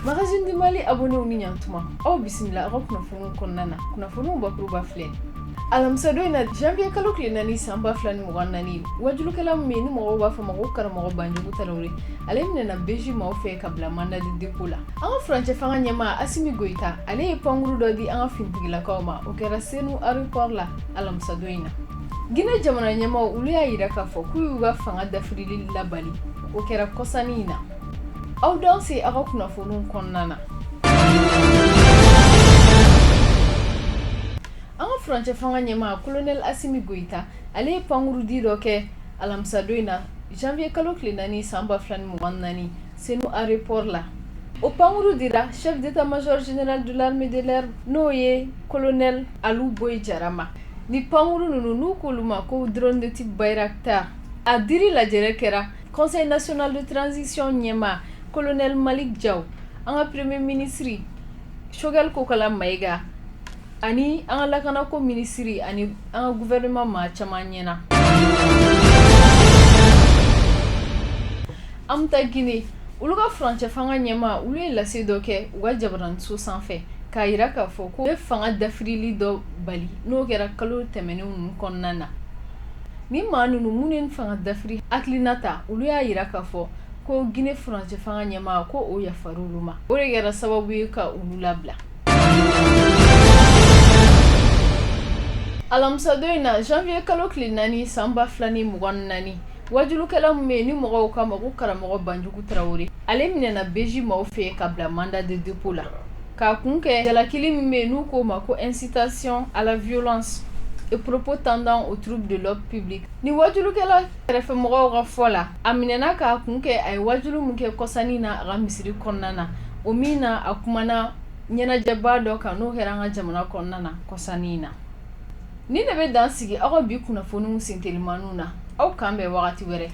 magazine du mali abonnéw ni ɲantuma aw bisimila aw ka kunnafoniw kɔnɔna na kunnafoniw bakuruba filɛ alamisa don in na janvier kalo tile naani san ba fila ni mugan naani wajulukɛla min ni mɔgɔw b'a fɔ ma ko karamɔgɔ banjugu tarawele ale minɛna beji maaw fɛ ka bila mandat de dépôt la an ka furancɛ fanga ɲɛmaa asimi goyita ale ye pankuru dɔ di an ka finitigilakaw ma o kɛra senu aéroport la alamisa don in na guinée jamana ɲɛmaaw olu y'a yira k'a fɔ k'u y'u ka fanga dafirili labali o kɛra kɔsannin in na aw danse aw ka kunnafoniw kɔnɔna na an ka furancɛ fanga ɲɛmaa kolonɛli asimi goyita ale ye pankurudi dɔ kɛ alamisadon in na janvier kalo tile naani san ba fila ni mugan naani senu aéroport la o pankuru dira chef d'état major général de l'armée de l'air n'o ye colonel alu boyi jara ma ni pankuru ninnu n'u k'olu ma ko drone de type bayraktar A diri lajɛrɛ kɛra conseil national de transition ɲɛmaa colonel Malick Diaw an ka premier ministre Choguel Kokalla Maïga ani an ka lakanako minisiri ani an ka gouvernement maa caman ɲɛ na an bɛ taa Guinée olu ka furancɛ fanga ɲɛmaa olu ye lase dɔ kɛ u ka jabaraninso sanfɛ k'a yira k'a fɔ ko u ye fanga dafirili dɔ bali n'o kɛra kalo tɛmɛnen ninnu kɔnɔna na Ni maa ninnu minnu ye fanga dafiri hakilina ta olu y'a yira k'a fɔ ko Guinée furancɛ fanga ɲɛmaa ko o yafara olu ma o de kɛra sababu ye ka olu labila alamisadon in na janvier kalo tile naani san ba fila ni mugan naani wajulukɛla min bɛ yen ni mɔgɔw k'a ma ko karamɔgɔ banjugu tarawele ale minɛna beji maaw fɛ ka bila mandat de dépôt la K'a kun kɛ jalakili min bɛ yen n'u k'o ma ko incitation à la violence et propos tendant au trouble de l'ordre public ni wajulukɛla kɛrɛfɛmɔgɔw ka fɔ la a minɛna k'a kun kɛ a ye wajulu min kɛ kɔsannin na a ka misiri kɔnɔna na o min na a kumana ɲɛnajɛba dɔ kan n'o kɛra an ka jamana kɔnɔna na kɔsannin in na nin de bɛ dan sigi aw ka bi kunnafoniw sentelimanw na aw k'an bɛn wagati wɛrɛ